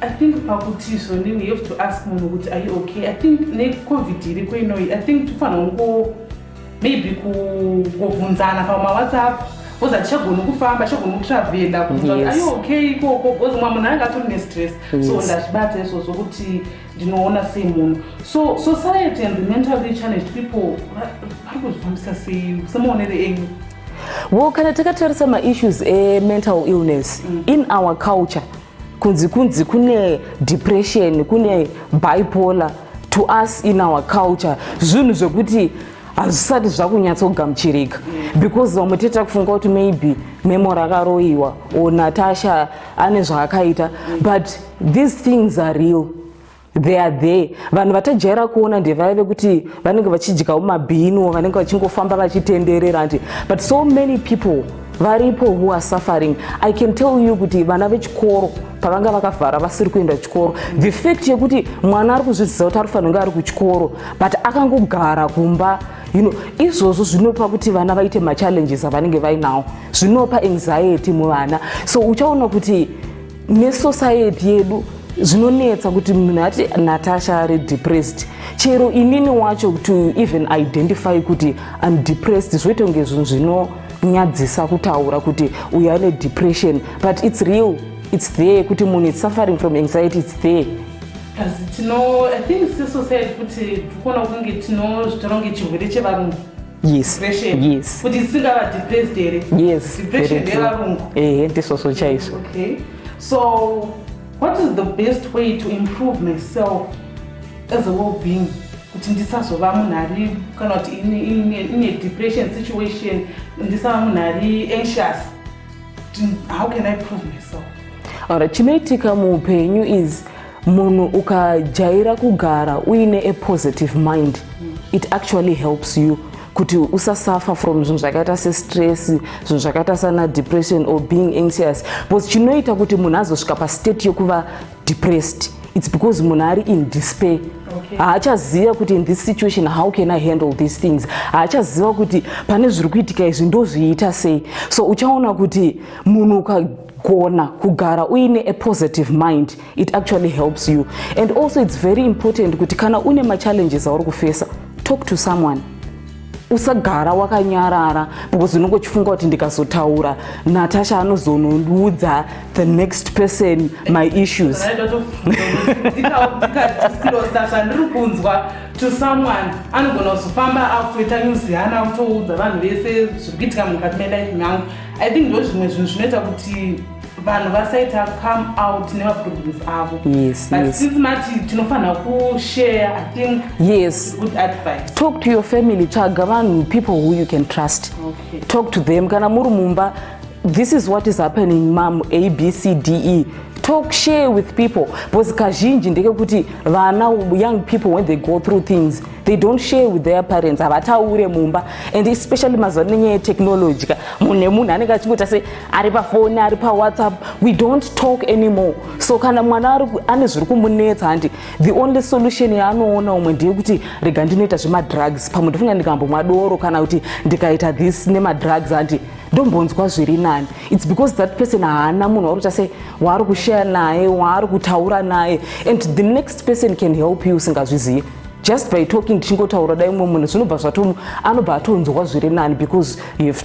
I think pakuti zvonini you have to ask munhu kuti are you okay? I think necovid iriko inoyi I think tofanira kungo maybe kungovhunzana pamawhatsapp bcoz hatichagoni kufamba chagoni kutravela kuti are you okay ikoko bcoz mumwe munhu anenge atori nestress so ndazvibata izvozvo kuti ndinoona sei munhu so society and the mentally challenged people vari kuzvifambisa sei semaonere enyu well kana takatarisa maissues emental illness mm. in our culture kunzi kunzi kune depression kune bipolar to us in our culture zvinhu zvekuti hazvisati zvakunyatsogamuchirika because vamwe tete takufunga kuti maybe memo rakaroyiwa or natasha ane zvaakaita but these things are real they are there vanhu vatajaira kuona ndevaya vekuti vanenge vachidyawo mabhinu vanenge vachingofamba vachitenderera andi but so many people varipo who are suffering i can tell you kuti vana vechikoro pavanga vakavhara vasiri kuenda chikoro the fact yekuti mwana ari kuzviziva kuti ari kufanira kunge ari kuchikoro but akangogara kumba you know izvozvo zvinopa kuti vana vaite machallenges avanenge vainawo zvinopa anxiety muvana so uchaona kuti nesociety yedu zvinonetsa kuti munhu ati natasha ari depressed chero inini wacho to even identify kuti im depressed zvoita kunge zvinhu zvinonyadzisa kutaura kuti uyo ane depression but its real its there kuti munhu is suffering from anxiety its there asi tino i think sesociety kuti tikuona kunge tinozvitora kunge chirwere chevarungu yes yes kuti dzisingava depressed here yes depression ndevarungu ehe ndisvosvo chaizvo okay so what is the best way to improve myself as a well being kuti ndisazova munhu ari kana kuti ine depression situation ndisava munhu ari anxious how can i prove myself alright chinoitika muupenyu is munhu ukajaira kugara uine a positive mind it actually helps you kuti usasuffer from zvinhu zvakaita sestress zvinhu zvakaita sana depression or being anxious because chinoita kuti munhu azosvika pastate yokuva depressed its because munhu ari in despair haachaziva okay. kuti in this situation how can i handle these things haachaziva kuti pane zviri kuitika izvi ndozviita sei so uchaona kuti munhu ukagona kugara uine a positive mind it actually helps you and also it's very important kuti kana une machallenges auri kufesa talk to someone usagara wakanyarara because unenge uchifunga kuti ndikazotaura natasha anozonondiudza the next person my issues to someone anogona kuzofamba akutoita nyuzi hana akutoudza vanhu vese zviri kuitika mukati melife mangu i think ndozvimwe zvinhu zvinoita kuti vanhu vasaita come out nemaproblems avo yes, but yes. since mati tinofanira kushare i think yes good advice talk to your family tsvaga vanhu people who you can trust okay. talk to them kana muri mumba this is what is happening mam a b c d e talk share with people because kazhinji ndekekuti vana young people when they go through things they don't share with their parents havataure mumba and especially mazuva nenyaya yetechnology ka munhu nemunhu anenge achingoti ase ari pafoni ari pawhatsapp we don't talk anymore so kana mwana ari ane zviri kumunetsa handi the only solution yaanoona umwe ndeyekuti rega ndinoita zvemadrugs pamwe ndofunga ndikambomwa doro kana kuti ndikaita this nemadrugs handi ndombonzwa zviri nani its because that person haana munhu wakuita se waari kushaya naye waari kutaura naye and the next person can help you usingazvizive just by talking ndichingotaura dai umwe munhu zvinobva zvato anobva atonzwa zviri nani because you have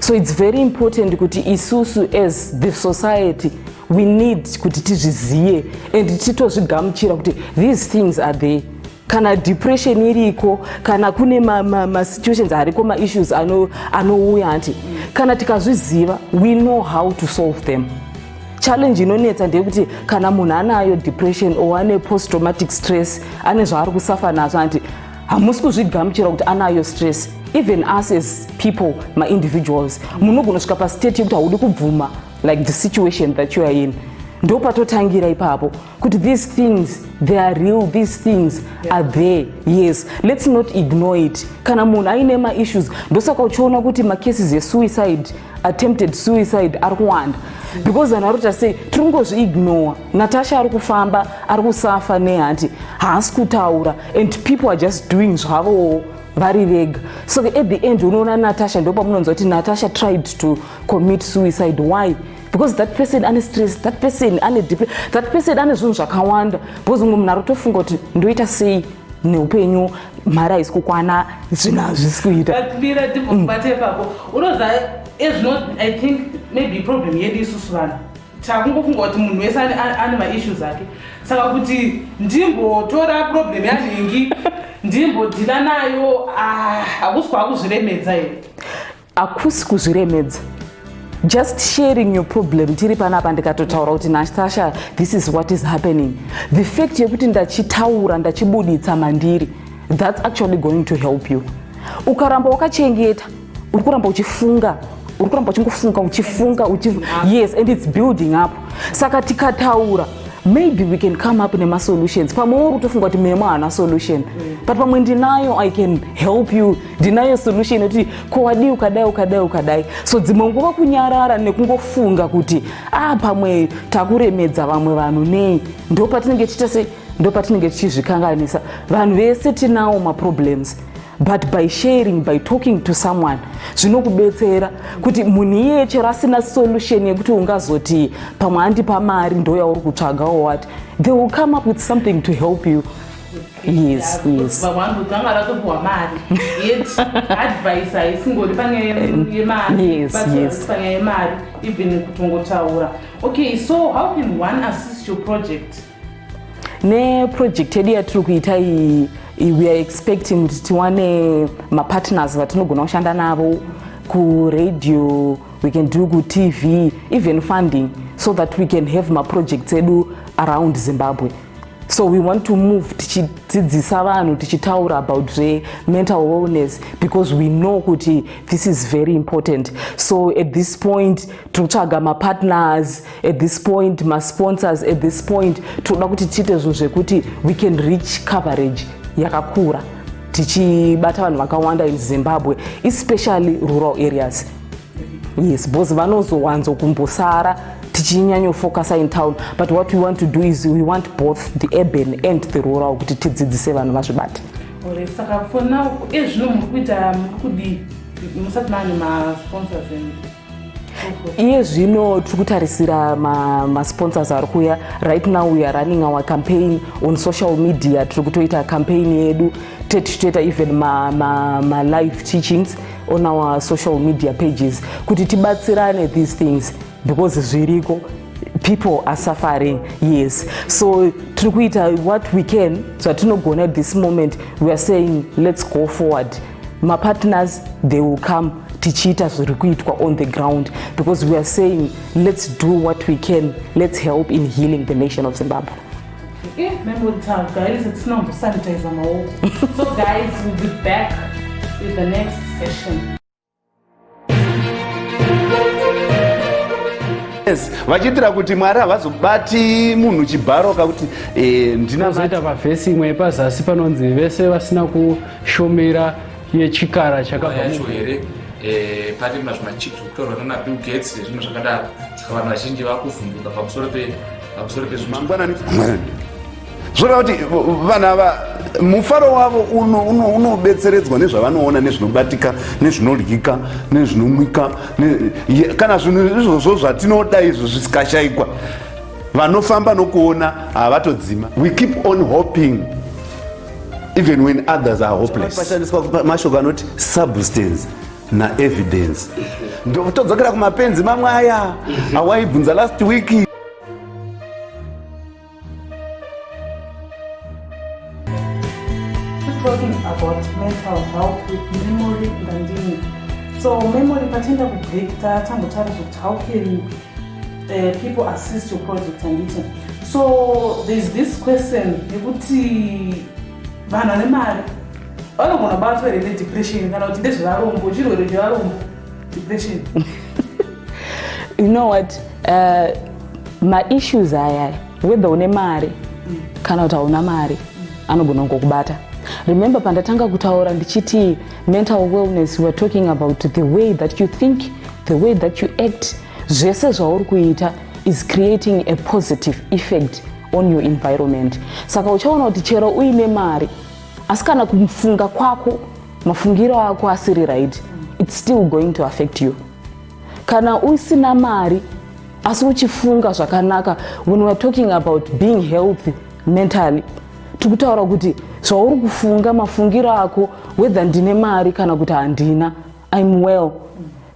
so its very important kuti isusu as the society we need kuti tizvizive and titozvigamuchira kuti these things are there kana depression iriko kana kune masituations ma, ma ariko maissues anouya ano ati kana tikazviziva we know how to solve them challenge inonetsa ndeyekuti kana munhu anayo depression or ane post traumatic stress ane zvaari kusafa nazvo anti hamusi kuzvigamuchira kuti anayo stress even us as people maindividuals munogona svika pastate yekuti haudi kubvuma like the situation that you are in ndopatotangira ipapo kuti these things they are real these things yeah. are there yes let's not ignore it kana munhu aine maissues ndosaka uchiona kuti macases esuicide yeah. attempted suicide ari kuwanda because vanhu vari kuita sei tiri kungozviignore natasha ari kufamba ari kusafa nehanti haasi kutaura and people are just doing zvavowo vari vega so at the end unoona natasha ndo pamunonzwa kuti natasha tried to commit suicide why because that person ane stress that person ane dep that person ane zvinhu zvakawanda because umwe munhu arotofunga kuti ndoita sei neupenyu mari haisi kukwana zvinhu hazvisi kuita takungofunga kuti munhu wese ane maissues ake saka kuti ndimbotora problem yanhingi ndimbodhila nayo ah, hakusi kwakuzviremedza here akusi kuzviremedza just sharing your problem tiri panapa ndikatotaura kuti natasha this is what is happening the fact yekuti ndachitaura ndachibuditsa mandiri that's actually going to help you ukaramba wakachengeta uri kuramba uchifunga uri kuramba uchingofunga uchifunga yes and its building up saka tikataura maybe we can come up nemasolutions pamwe uri kutofunga kuti memo haana solution mm. but pamwe ndinayo i can help you ndinayo solution yekuti ko wadii ukadai ukadai ukadai so dzimwe nguva kunyarara nekungofunga kuti ah pamwe takuremedza vamwe vanhu nei ndo patinenge tichiita sei ndo patinenge tichizvikanganisa vanhu vese tinawo maproblems but by sharing by talking to someone zvinokubetsera kuti munhu iyeye chero asina solution yekuti ungazoti pamwe andipa mari ndo yauri kutsvaga or what they will come up with something to help you yes yes baba wangu dzanga ratopiwa mari yet advice haisingori pane yemari yes yes pane yemari even kutongotaura okay so how can one assist your project ne project yedu yatiri kuita iyi we are expecting kuti tiwane mapartners vatinogona kushanda navo kuradio we can do kutv even funding so that we can have maprojects edu around zimbabwe so we want to move tichidzidzisa vanhu tichitaura about zvemental wellness because we know kuti this is very important so at this point tiri kutsvaga mapartners at this point masponsors at this point tinoda kuti tiite zvinhu zvekuti we can reach coverage yakakura tichibata vanhu vakawanda in zimbabwe especially rural areas yes bcause vanozowanzo kumbosara tichinyanyofocasa in town but what we want to do is we want both the urban and the rural kuti tidzidzise vanhu vazvibate saka for now ezvino muri kuita muri kudii musati maane masponsors enu iye zvino tiri kutarisira masponsors ma ari kuuya right now we are running our campaign on social media tiri kutoita campaign yedu tetichitoita even malive ma, ma teachings on our social media pages kuti tibatsirane these things because zviriko people are suffering yes so tiri kuita what we can zvatinogona at this moment we are saying let's go forward mapartners they will come tichiita zviri kuitwa on the ground because we are saying let's do what we can let's help in healing the nation of zimbabwe Eh, membotaura guys hatisina kumbosanitiza maoko so guys will be back with the next session yes vachiitira kuti mwari havazobati munhu chibharo kakuti eh, ndinazoita pavhesi imwe yepazasi panonzi vese vasina kushumira yechikara chakabva yacho here eh, pari mazvimachipsi kutorwa nanabill gates nezvimwe zvakadaro vanhu vazhinji vakuvhunduka pamusoro pamusoro pezvimangwanani zvoreva kuti vanhu ava mufaro wavo unobetseredzwa nezvavanoona nezvinobatika nezvinodyika nezvinomwika kana zvinhu izvozvo zvatinoda izvo zvisikashayikwa vanofamba nokuona havatodzima we keep on hoping even when others are hopeless mashoko anoti substance na evidence ndokutodzokera kumapenzi mamwe aya awaibvunza last week talking about mental health with memory ngandini so memory patenda kubrekta tangotaura zvekuti how can uh, people assist your project anditi so thereis this question yekuti vanhu vane mari vanogona batwa here nedepression kana kuti ndezvevarombo chirwere chevarombo depression you know what uh, maissues aya whether une mari mm. kana kuti hauna mari mm. anogona kungokubata mm remember pandatanga kutaura ndichiti mental wellness weare talking about the way that you think the way that you act zvese zvauri kuita is creating a positive effect on your environment saka uchaona kuti chero uine mari asi kana kufunga kwako mafungiro ako asiri right its still going to affect you kana usina mari asi uchifunga zvakanaka when weare talking about being healthy mentally tiri kutaura kuti zvauri kufunga mafungiro ako whether ndine mari kana kuti handina im well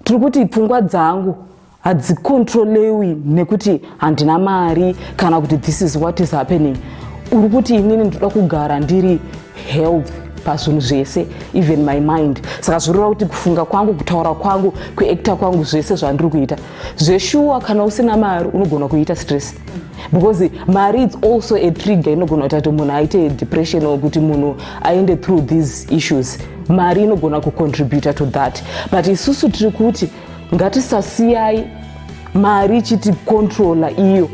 tiri kuti pfungwa dzangu hadzikontrolewi nekuti handina mari kana kuti this is what is happening uri kuti inini ndinoda kugara ndiri health pazvinhu zvese even my mind saka zvinoreva kuti kufunga kwangu kutaura kwangu kuekta kwangu zvese zvandiri kuita zveshuwa kana usina mari unogona kuita stress because mari its also a trigger inogona kuita kuti munhu aite depression or kuti munhu aende through these issues mari inogona kucontributa to that but isusu tiri kuti ngatisasiyai mari ichiti controla iyo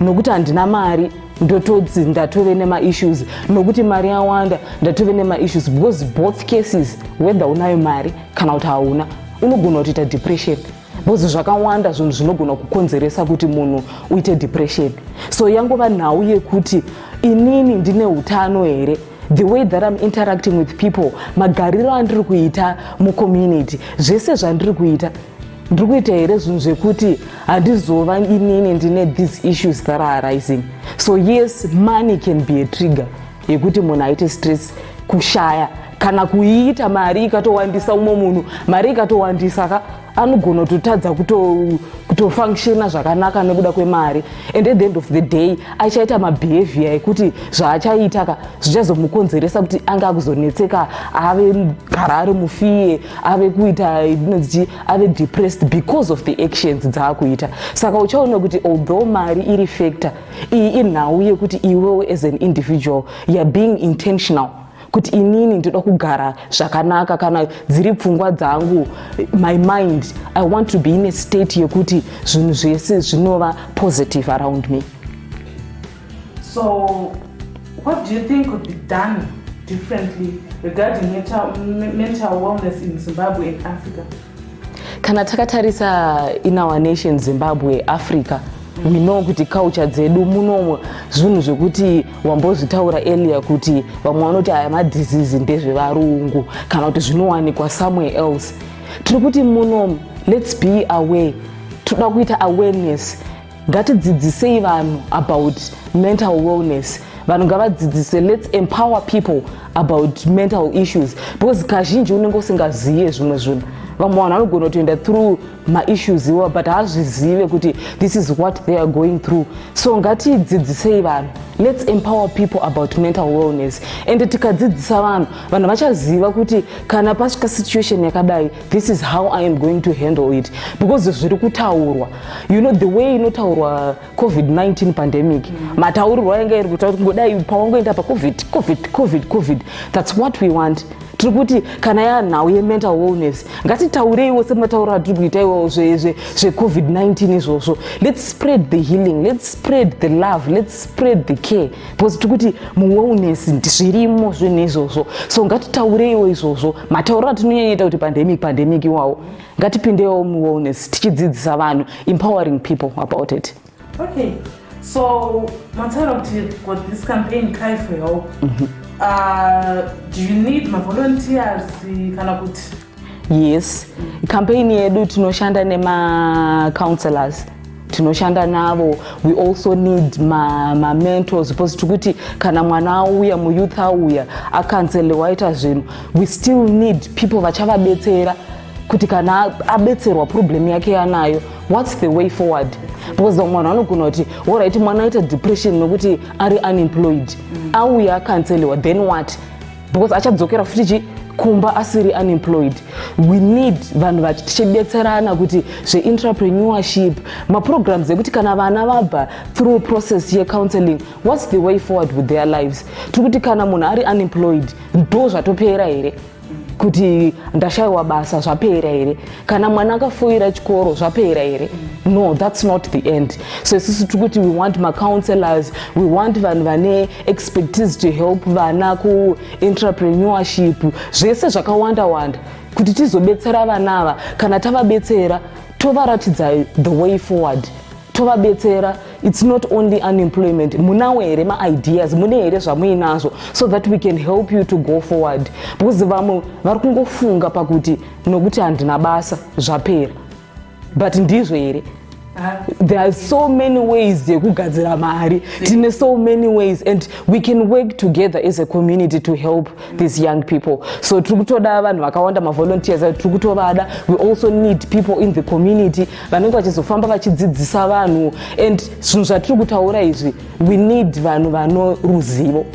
nokuti handina mari ndotodzi ndatove nemaissues nokuti mari yawanda ndatove nemaissues because both cases whether unayo mari kana kuti hauna unogona kutoita depression bhozi zvakawanda zvinhu zvinogona kukonzeresa kuti munhu uite depression so yangova nhau yekuti inini ndine utano here the way that im interacting with people magariro andiri kuita mucommunity zvese zvandiri kuita ndiri kuita here zvinhu zvekuti handizova inini ndine these issues that are arising so yes money can be a trigger yekuti munhu aite stress kushaya kana kuiita mari ikatowandisa umwe munhu mari ikatowandisa ka anogona kutotadza kutofunctiona kuto zvakanaka nekuda kwemari and at the end of the day achaita mabehavior ekuti zvaachaita ka zvichazomukonzeresa kuti ange akuzonetseka ave gara ari mufiye ave kuita inonzii ave depressed because of the actions dzaakuita saka uchaona kuti although mari iri factor iyi inhau yekuti iwewe as an individual youare being intentional kuti inini ndoda kugara zvakanaka kana dziri pfungwa dzangu my mind i want to be in a state yekuti zvinhu zvese zvinova positive around me so what do you think could be done differently regarding mental, mental wellness in zimbabwe and africa kana takatarisa in our nation zimbabwe africa we know kuti culture dzedu munomo zvinhu zvekuti wambozvitaura earlier kuti vamwe vanoti aya madhizizi ndezvevarungu kana kuti zvinowanikwa somewhere else tiri kuti munomo let's be aware toda kuita awareness ngatidzidzisei vanhu about mental wellness vanhu ngavadzidzise let's empower people about mental issues because kazhinji unenge usingazive zvimwe zvinhu vamwe vanhu vanogona kutoenda through maissues iwo but haazvizive kuti this is what they are going through so ngatidzidzisei vanhu let's empower people about mental wellness and tikadzidzisa vanhu vanhu vachaziva kuti kana pasvika situation yakadai this is how i am going to handle it because zviri kutaurwa you know the way inotaurwa covid-19 pandemic mm. mataurirwo ayanga iri kutaura kuti ngodai pawangoenda pacovid covid covid covid that's what we want tiri kuti kana yanhau yemental wellness ngatitaureiwo sematauro atiri kuita iwawo zvecovid-19 izvozvo let's spread the healing let's spread the love let's spread the care because tiri kuti muwellness zvirimo zvinhu izvozvo so ngatitaureiwo izvozvo matauriro atinonyanyaita kuti pandemic pandemic iwawo ngatipindewo muwellness tichidzidzisa vanhu empowering people about it okay so mataura kuti for this campaign cry for help mm -hmm. uh, do you need mavolunteers kana kuti yes campaign yedu tinoshanda nemacounselors tinoshanda navo we also need mamentors ma because tikuti kana mwana auya muyouth auya akanselwa waita zvinhu we still need people vachavabetsera kuti kana abetserwa problem yake yanayo what's the way forward because vamwe vanhu vanogona kuti orit mwana aita depression nokuti ari unemployed mm. auya akanselwa then what because achadzokera futi chi kumba asiri unemployed we need vanhu vati tichibetserana kuti zveintrapreneurship maprograms ekuti kana vana vabva through process yecounseling whats the way forward with their lives tiri kuti kana munhu ari unemployed ndo zvatopera here kuti ndashayiwa basa zvapera here kana mwana akafoira chikoro zvapera here no that's not the end so isusu tiri kuti we want macounselors we want vanhu vane expertise to help vana kuentrepreneurship zvese zvakawanda wanda kuti tizobetsera vana ava kana tavabetsera tovaratidza the way forward tovabetsera it's not only unemployment munawo here maideas mune here zvamuinazvo so that we can help you to go forward because vamwe vari kungofunga pakuti nokuti handina basa zvapera but ndizvo here there are so many ways yekugadzira mari tine so many ways and we can work together as a community to help these young people so tiri kutoda vanhu vakawanda mavolunteers avo tiri kutovada we also need people in the community vanenge vachizofamba vachidzidzisa vanhu and zvinhu zvatiri kutaura izvi we need vanhu vano ruzivo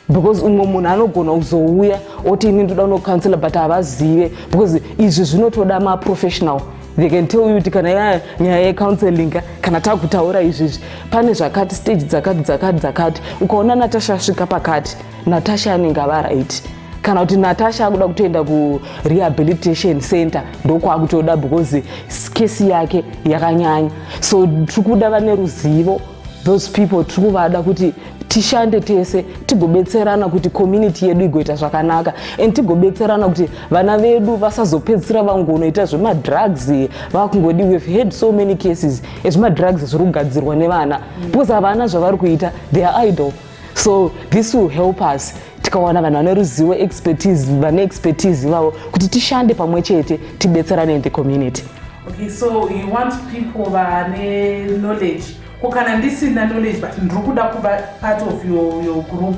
because umwe munhu anogona kuzouya oti ini ndoda unocancela but havazive because izvi zvinotoda maprofessional they can tell you kuti kana ya nyaya yecounseling kana takutaura izvizvi pane zvakati stage dzakati dzakati dzakati ukaona natasha asvika pakati natasha anenge ava right kana kuti natasha akuda kutoenda kurehabilitation center ndokwaakutoda because skesi yake yakanyanya so tiri kuda vane ruzivo those people tiri kuvada kuti tishande tese tigobetserana kuti community yedu igoita zvakanaka and tigobetserana kuti vana vedu vasazopedzisira vangonoita zvemadrugs vakungodi we've had so many cases ezvemadrugs zviri kugadzirwa nevana because havana zvavari kuita they are idle so this will help us tikawana vanhu vane ruzivo expertise vane expertise ivavo kuti tishande pamwe chete tibetserane in the community okay so you want people vane knowledge ko kana ndisina knowledge but ndiri kuda kuva part of your, your group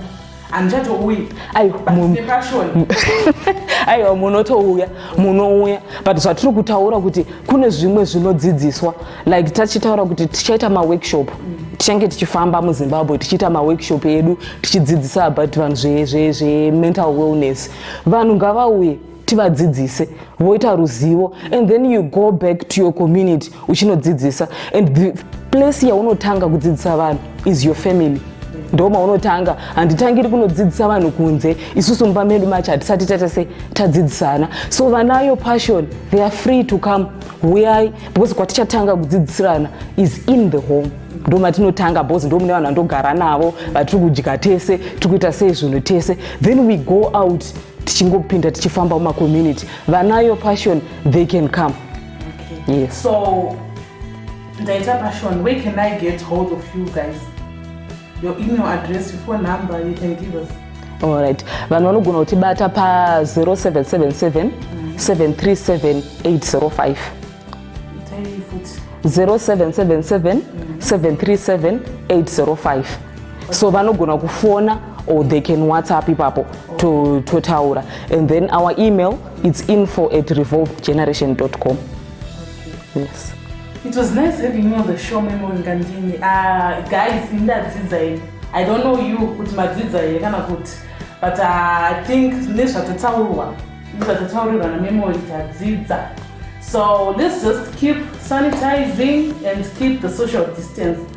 handichatouyi nepashoni aiwa munotouya munouya but zvatiri kutaura kuti kune zvimwe zvinodzidziswa like tachitaura kuti tichaita maworkshop tichange tichifamba muzimbabwe tichiita maworkshop edu tichidzidzisa about vanhu zvemental wellness vanhu ngavauye tivadzidzise voita ruzivo and then you go back to your community uchinodzidzisa and the place yaunotanga kudzidzisa vanhu is your family ndo maunotanga handitangiri kunodzidzisa vanhu kunze isusu mumba medu macho hatisati tatese tadzidzisana so vanayo passion they are free to come huyai because kwatichatanga kudzidzisirana is in the home ndo matinotanga because ndo mune vanhu vandogara navo vatiri kudya tese tiri kuita sei zvinhu tese then we go out tichingopinda tichifamba mumacommunity vanayo passion they can come okay. yes. so ndaita passion where can i get hold of you guys your email address, your phone number, you can give us. All right. Vanhu vanogona kutibata pa 0777 737 805. 0777 737 805. So vanogona kufona or they can WhatsApp ipapo to totaura and then our email it's info at revolvegeneration.com. yes it was nice having you on the show memon ngandini uh, ah, guys indadzidza ini i don't know you kuti madzidza here kana kuti but ah, i think nezvatataurwa nezvatataurwa namemon tadzidza so let's just keep sanitizing and keep the social distance